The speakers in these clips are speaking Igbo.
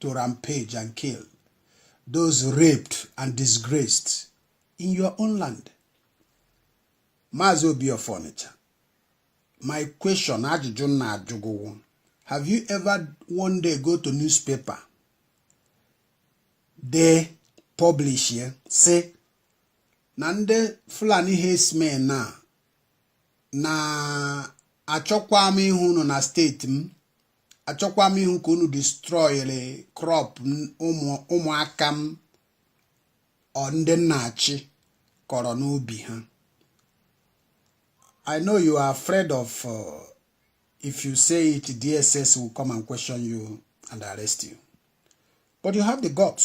to rampage and kill those raped and disgraced in your own land Maazị Obi of Onitsha my question ajụjụ m na-ajụ gị wụ have you ever one day go to newspaper dee publish ya sị na ndị Fulani herdsmen na na achọkwa m ịhụ unu na steeti m achọkwa m ịhụ ka unu destroyere crop ụmụaka m or ndị m na-achị kọrọ n'ubi ha I know you are afraid of uh, if you say it DSS will come and question you and arrest you but you have the guts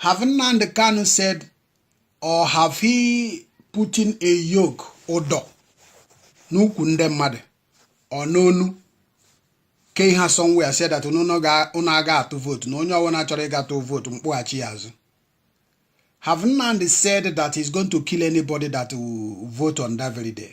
Have Nnamdi Kanu said or have he put in a yoke ụdọ n'ụkwụ ndị mmadụ or n'onu kee ha somewhere sị that unu aga atụ vote na onye ọbụla chọrọ ịga tụọ vote m kpụghachi ya azụ have Nnamdi said that he's going to kill anybody that will vote on that very day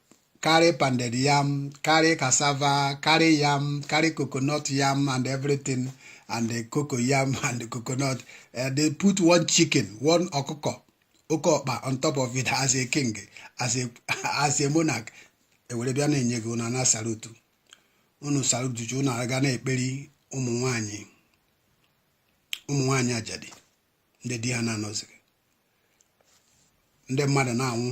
carry pounded yam, carry cassava, carry yam, carry coconut yam and everything, and the cocoa yam and the coconut. Uh, they put one chicken, one ọkụkọ, oke ọkpa on top of it as a king, as a as a monarch. ewere bịa na-enye gị unu ana salutu unu salutu unu aga na-akparị ụmụ nwanyị ụmụ nwanyị ajadi ndị di ha na-anọzighị ndị mmadụ na-anwụ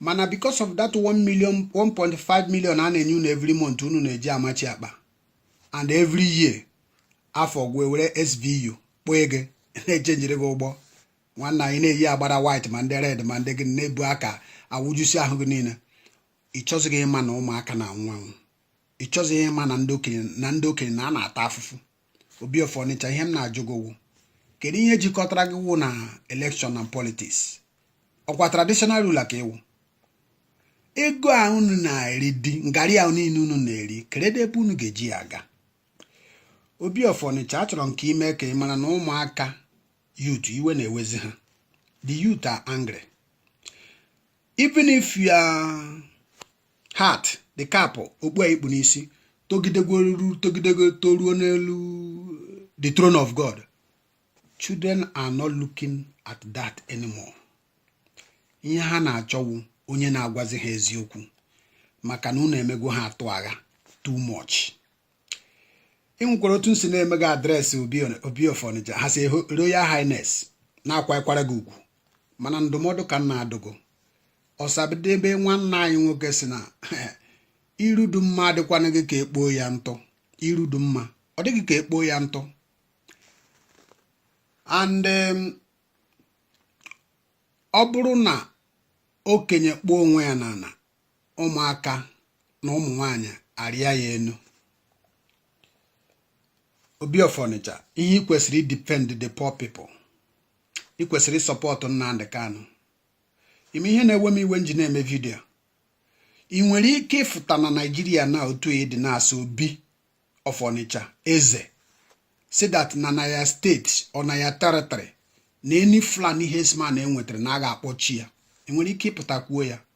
mana because of that 1 million 1.5 million a na-enye unu every month unu na-eji amachi akpa and every year afọ gwụ e were SVU kpọọ ego na-echenjiri gị ụgbọ ana ị na-eyi agbada white ma ndị red ma ndị gị na-ebu aka awụjusi ahụ gị niile ị chọzighị ịma na ụmụaka na-anwụ anwụ ị chọzighị ịma na ndị okenye na ndị okenye na a na-ata afụfụ Obi of Onitsha ihe m na-ajụ gị wụ kedu ihe jikọtara gị wụ na election na politics ọ kwa traditional ruler ka ị wụ ego a unu na-eri the ngarị a niile unu na-eri kedu ebe unu ga-eji ya aga Obi of Onitsha achọrọ m ka ime ka ị mara na ụmụaka youth iwe na-ewezi ha the youth are angry even if your hat the cap okpu a i kpu n'isi togidegworuru togidego toruo n'elu the throne of God children are not looking at that anymore ihe ha na-achọ wụ onye na-agwazi ha eziokwu maka na unu emego ha atụ agha too much ị nwekwara otu nsi na-eme gị address obi of Onitsha his royal highness na-akwakwara gị ugwu mana ndụmọdụ ka m na-adụ gị ọsadebe nwanne anyị nwoke si na iru dụ mma adịkwana gị ka ekpoo ya ntụ iru dụ mma ọ dịghị ka ekpoo ya ntụ and um, ọ bụrụ na okenye kpoo onwe ya n'ala ụmụaka na ụmụ nwanyị arịa ya enu obi of Onitsha ihe ị kwesịrị idefend the poor people ị kwesịrị isupport Nnamdi Kanu ị ma ihe na-ewe m iwe nji na-eme vidio ị nwere ike ịfụta na Naịjirịa na otu ị dị now as obi of Onitsha eze sị that na na your state or na your territory na any Fulani herdsman e nwetara na a ga-akpọchi ya ị nwere ike ịpụta kwuo ya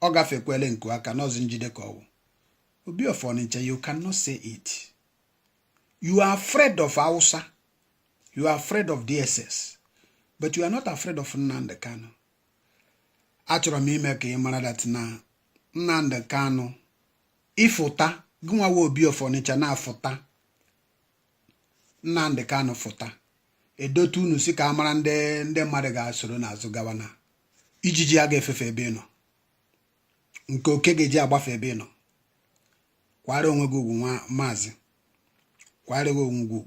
ọ gafekwele nku aka na ọzị njide ka ọ wụ obi of Onitsha you cannot say it you are afraid of Hausa you are afraid of DSS but you are not afraid of Nnamdi Kanu achọrọ m ime ka ị mara that na Nnamdi Kanu ịfụta gụnwa wụ obi of Onitsha na-afụta Nnamdị Kanụ fụta e dote unu sị ka a mara ndị ndị mmadụ ga-esoro n'azụ gawa na ijiji a ga-efefe ebe ị nọ nke oke ga-eji agbafe ebe ị nọ kwara onwe gị ugwu maazị kwara onwe gị ugwu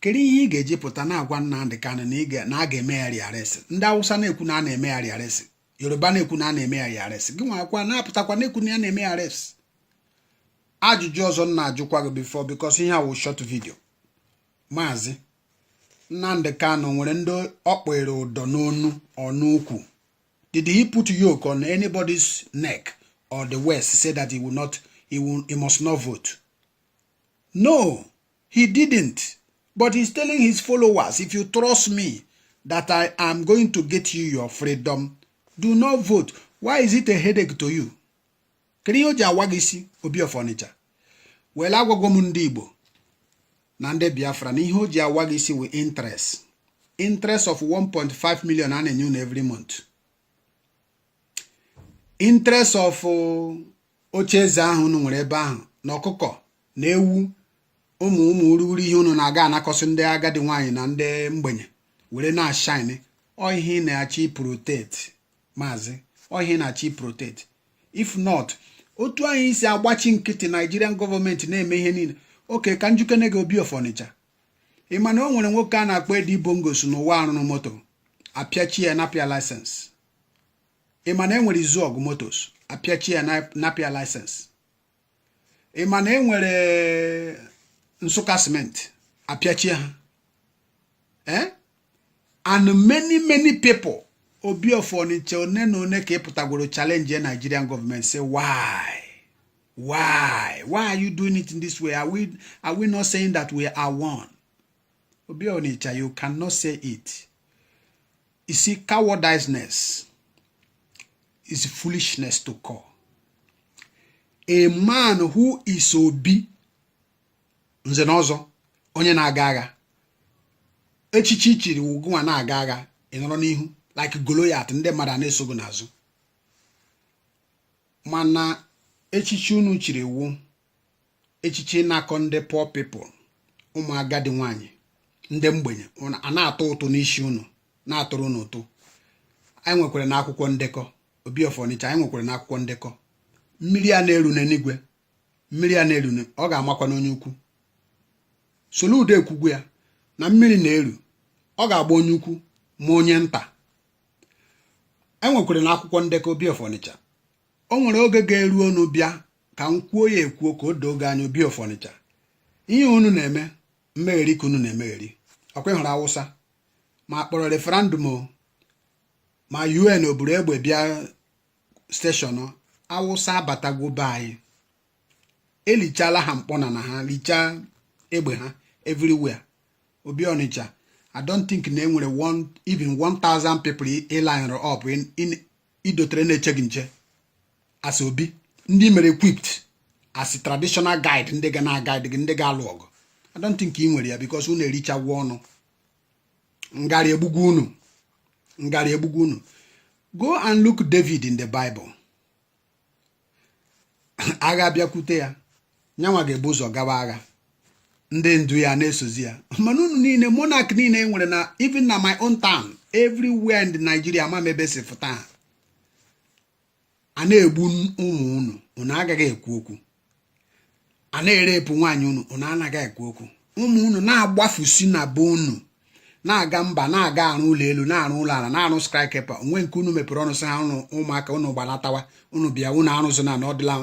kedu ihe ị ga-eji pụta na-agwa Nnamdị Kanụ na a ga-eme ya rearrest ndị Awụsa na-ekwu na a na-eme ya rearrest Yoruba na-ekwu na a na-eme ya rearrest gị nwakwa na-apụtakwa na-ekwu na ya na-eme ya rearrest ajụjụ ọzọ m na-ajụkwa gị before because ihe a wụ short vidio maazị Nnamdi Kanu nwere ndị ọ kpọere ụdọ n'onu or n'ukwu did he put yoke on anybody's neck or the waist say that he will not he, will, he must not vote no he didn't but he's telling his followers if you trust me that I am going to get you your freedom do not vote why is it a headache to you kedu ihe o ji awa gị isi obi of Onitsha well agwagwo m ndị igbo na ndị biafra na ihe o ji awa gị isi wụ interest interest of 1.5 million a na-enye unu every month interest of uh, oche eze ahụ unu nwere ebe ahụ na ọkụkọ na ewu ụmụ ụmụ urughuru ihe unu na-aga anakọsị ndị agadi nwaanyị na ndị mgbenye were na-ashine ọ ihe ị na-achọ iprotect maazị ọ ihe ị na-achọ iprotect if not otu anyị isi agbachi nkịtị Nigerian government na-eme ihe niile okay ka m jụkene gị obi of Onitsha ị ma na o nwere nwoke a na-akpọ Eddy Bongos n'ụwa a rụrụ moto apịachi ya napịa license ị ma na e nwere Izuogu motors apịachi ya napịa license ị ma na e nwere nsụka simenti apịachie ha eh? and many many people obi of Onitsha one na one ka ịpụtagworo challenge Nigerian government say why why why are you doing it in this way are we are we not saying that we are one obi Onitsha you cannot say it You see, cowardiceness is foolishness to call. A man who is obi nze na ọzọ onye na-aga agha echichi chiri gị wụ a na-aga agha ịnọrọ n'ihu like Goliath ndị mmadụ a na-eso gị n'azụ mana echichi unu chiri wu echichi ịnakọ ndị poor people ụmụ agadi nwaanyị ndị mgbenye a na-atụ ụtụ n'isi unu na-atụrụ unu ụtụ anyị nwekwara na akwụkwọ ndekọ obi of Ọnịcha anyị nwekwara na akwụkwọ ndekọ mmiri a na-eru n'eluigwe mmiri a na-eru ọ ga-amakwa n'onye ukwu Soludo ekwugwo ya na mmiri na-eru ọ ga-agba onye ukwu ma onye nta enwekwara na akwụkwọ ndekọ obi of Ọnịcha o nwere oge ga-eru unu bịa ka m kwuo ya ekwuo ka o doo gị anya obi of Ọnịcha ihe unu na-eme mmegheri ka unu na-emegheri ọkwa ị hụrụ awụsa ma kpọrọ referendum ma UN oburu egbe bịa station awụsa abatagwo be anyị elichala ha mkpọnala ha lichaa egbe ha everywhere obi Ọnịcha I don't think na i nwere even 1000 people i linere up i dotere na-eche gị nche as obi ndị mere equipped as traditional guide ndị ga na-guide gị ndị ga-alụ ọgụ I don't think ị nwere ya because unu erichagwo ọnụ ngara egbugwo unu ngara egbugwo unu go and look David in the Bible agha bịakwute ya nyanwa ga-ebu ụzọ gawa agha ndị ndu ya na-esozi ya mana unu niile monarch niile e nwere na even na my own town everywhere in Nigeria ma ebe m si fụta a na-egbu ụmụ unu unu agaghị ekwu okwu a na-erepụ nwaanyị unu unu anaghị ekwu okwu ụmụ unu na-agbafusị na be unu na-aga mba na-aga arụ ụlọ elu na-arụ ụlọ ala na-arụ skyscraper o nwe nke unu mepere ọnụ sị ha unu ụmụaka unu gbanatawa unu bịa unu arụzụ na ọdịla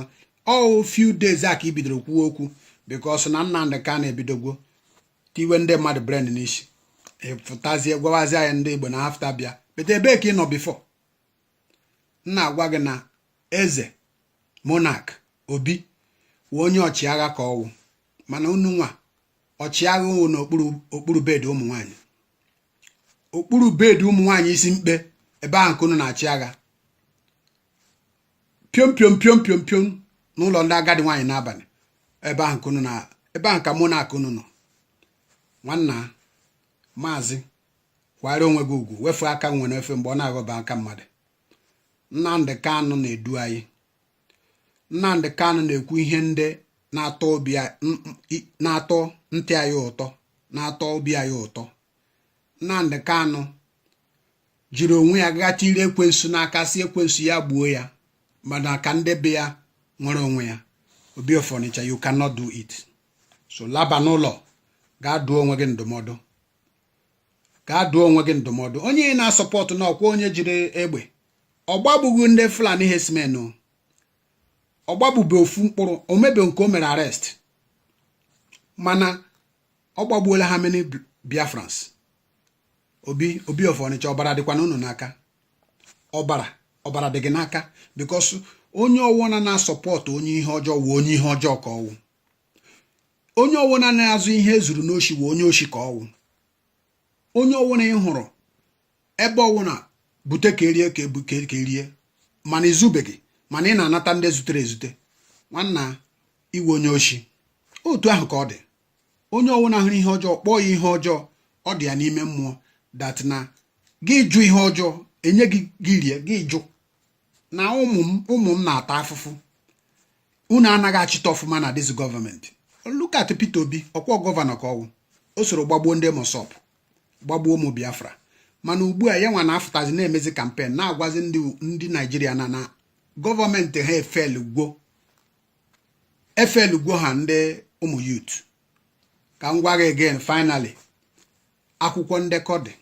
ọ wụ few days a ka i bidoro kwuo okwu because na Nnamdị Kanu ebidogwo tiwe ndị mmadụ brain n'isi ị pụtazie gwawazie ya ndị Igbo na after bịa but ebee ka ị nọ before na-agwa gị na eze monarch obi wụ onye ọchịagha ka ọ wụ mana unu nwa ọchịagha wụ n'okpuru bed ụmụ nwaanyị okpuru bed ụmụ nwaanyị isi mkpe ebe ahụ ka unu na-achị agha piom piom piom piom piom n'ụlọ ndị agadi nwaanyị n'abalị ebe ahụ ka unu na ebe ahụ ka monarch unu nọ nwanna maazị kwara onwe gị ugwu wefu aka enwe n'ofe mgbe ọ na-aghọba aka mmadụ Nnamdị Kanụ na-edu anyị Nnamdị Kanụ na-ekwu ihe ndị na-atọ ntị anyị ụtọ na-atọ obi anyị ụtọ Nnamdị Kanụ jiri onwe ya gaa tiri ekwensu n'aka sị ekwensu ya gbuo ya mana ka ndị be ya nwere onwe ya obi of Ọnịcha you cannot do it so laba n'ụlọ gaa dụọ onwe gị ndụmọdụ gaa dụọ onwe gị ndụmọdụ onye ị na-asọpọtụ na ọkwa onye jiri egbe ọ gbagbughị ndị Fulani herdsmen ọ gbagbube ofu mkpụrụ o nwebe nke o mere arrest mana ọ gbagbuola how many Biafrans obi of Ọnịcha ọbara dịkwa ụnụ n'aka ọbara dị gị n'aka because onye ọwụna na-asọpọtụ onye ihe ọjọọ wụ onye ihe ọjọọ ka ọ wụ onye ọwụna na-azụ ihe e zuru n'oshi wụ onye oshi ka ọ wụ onye ọwụna ị hụrụ ebe ọwụna bute ka e rie ka e rie mana i zubeghị mana ị na-anata ndị zutere ezute nwanna ị wụ onye oshi otu ahụ ka ọ dị onye ọwụna hụrụ ihe ọjọọ kpọọ ya ihe ọjọọ ọ dị ya n'ime mmụọ that na gị jụ ihe ọjọọ e nye gị rie gị jụ na ụmụ m na-ata afụfụ unu anaghị achịta ọfụma na this government look at Peter Obi ọkwa gọvanọ ka ọ wụ o soro gbagbuo ndị MASSOB gbagbuo ụmụ Biafra mana ugbu a ya nwa na-afụtazi na-emezi campaign na-agwazi ndị Naijiria na na government ha efelugwo ha ndị ụmụ youth ka m gwa gị again finally akwụkwọ ndekọ dị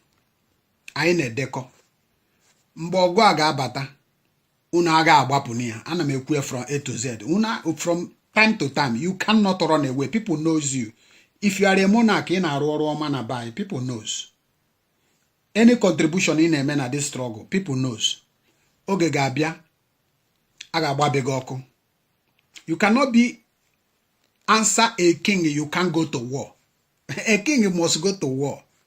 anyị na-edekọ mgbe ọgụ a ga-abata unu aga agbapụ na ya ana m ekwu ya from A to Z from time to time you cannot run away people knows you if you are a monarch ị na-arụ ọrụ ọma na be people knows any contribution ị na-eme na this struggle people knows oge ga-abịa a ga-agbabe gị ọkụ you cannot be answer a king you can't go to war a king must go to war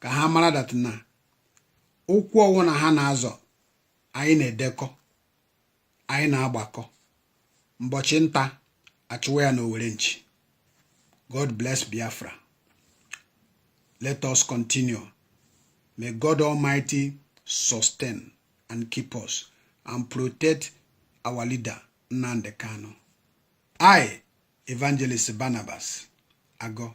ka ha mara that na ụkwụ ọwụna ha na-azọ anyị na-edekọ anyị na-agbakọ mbọchị nta a chụwa ya n'owere nchi god bless biafra let us continue may god almighty sustain and keep us and protect our leader nnamdi kanu i evangelist barnabas agọ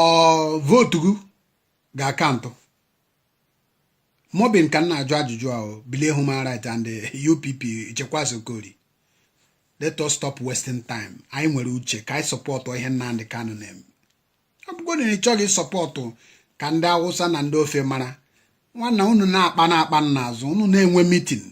ọ vote gị ga-acount MOBIN ka m na-ajụ ajụjụ ahụ bilie human right and UPP Chekwas Okorie let us stop wasting time anyị nwere uche ka anyị support ihe Nnamdi Kanu na-eme ọ bụgodi na ị chọghị support ka ndị Awụsa na ndị ofe mara nwanna unu na-akpa na-akpa n'azụ unu na-enwe meeting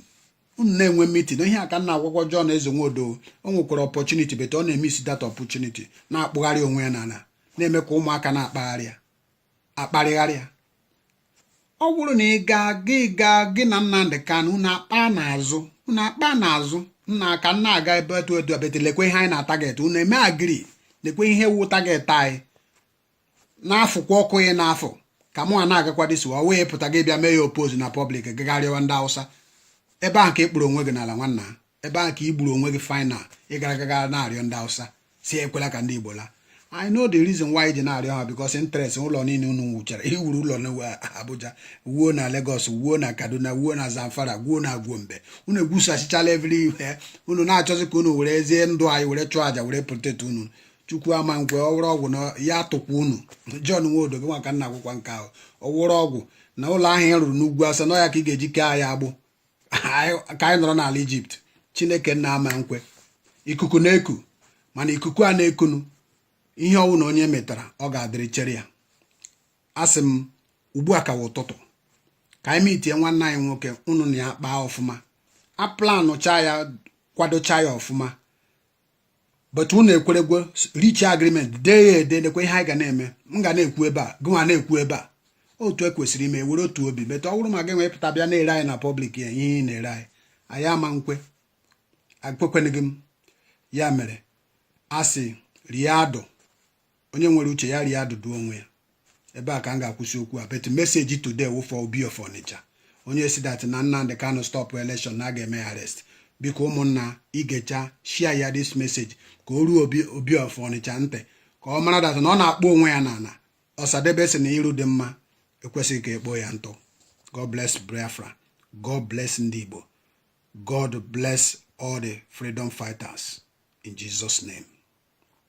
unu na-enwe meeting ihe a ka m na-agwakwa John Eze Nwodo o nwekwara opportunity but ọ na-emiss that opportunity na-akpụgharị onwe ya n'ala na-eme ka ụmụaka na-akparịgharị ya ọ bụrụ na ị gaa gị gaa gị na Nnamdị Kanụ unu akpaa n'azụ nna ka nna aga ebe etu etu abete lekwe ihe anyị na-atarget unu eme agree lekwe ihe wụ target anyị na-afụkwa ọkụ ị na-afụ ka mụ a na-agakwa this way pụta gị bịa mee ya oppose na public gaa rịọwa ndị awụsa ebe ahụ ka ị kpụrụ onwe gị n'ala nwanna ebe ahụ ka ị gburu onwe gị final ị gara gaga na-arịọ ndị awụsa sị ekwela ka ndị igbo laa I know the reason why i ji na-arịọ ha because interest ụlọ niile unu wuchara i wuru ụlọ na Abuja wuo na Lagos wuo na Kaduna wuo na Zamfara wuo na Gombe unu ewusachichala everywhere unu na-achọzi ka unu werezie ndụ anyị were chụọ aja were protect unu chukwu ama nkwe ọ wụrụ ọgwụ na ya atụkwa unu John Nwodo gịnwa ka m na-agwakwa nke ahụ ọ wụrụ ọgwụ na ụlọ ahụ ị rụrụ n'ugwu Awụsa na ya ka ị ga-eji kee anyị agbụ ka anyị nọrọ n'ala Egypt chineke nna ama nkwe ikuku na-eku mana ikuku a na-ekunu ihe ọ wụna onye metara ọ ga-adịrị chere ya asị m ugbu a ka wụ ụtụtụ ka anyị meetie nwanne anyị nwoke unu na ya kpaa ọfụma aplanụcha ya kwadocha ya ọfụma but unu ekweregwo reach agreement dee ya ede nekwe ihe anyị ga na-eme m ga na-ekwu ebe a gụnwa na-ekwu ebe a otu e kwesịrị ime were otu obi but ọ bụrụ ma gị wee pụta bịa na-ere anyị na public ya ihe ị na-ere anyị anyị ama nkwe ekwekwenịghị m ya mere a sị rie adụ onye nwere uche ya rie adụdụ onwe ya ebe a ka m ga-akwụsị okwu a but message today wụ for Obi of Onitsha onye sị that na Nnamdi Kanu stop election na a ga-eme ya arrest biko ụmụnna i gechaa share ya this message ka o ruo Obi of Onitsha ntị ka ọ mara that na ọ na-akpụ onwe ya n'ala Ọsadebe sị na iru dị mma ekwesịghị ka e kpoo ya ntụ God bless Biafra God bless ndị Igbo God bless all the freedom fighters in Jesus name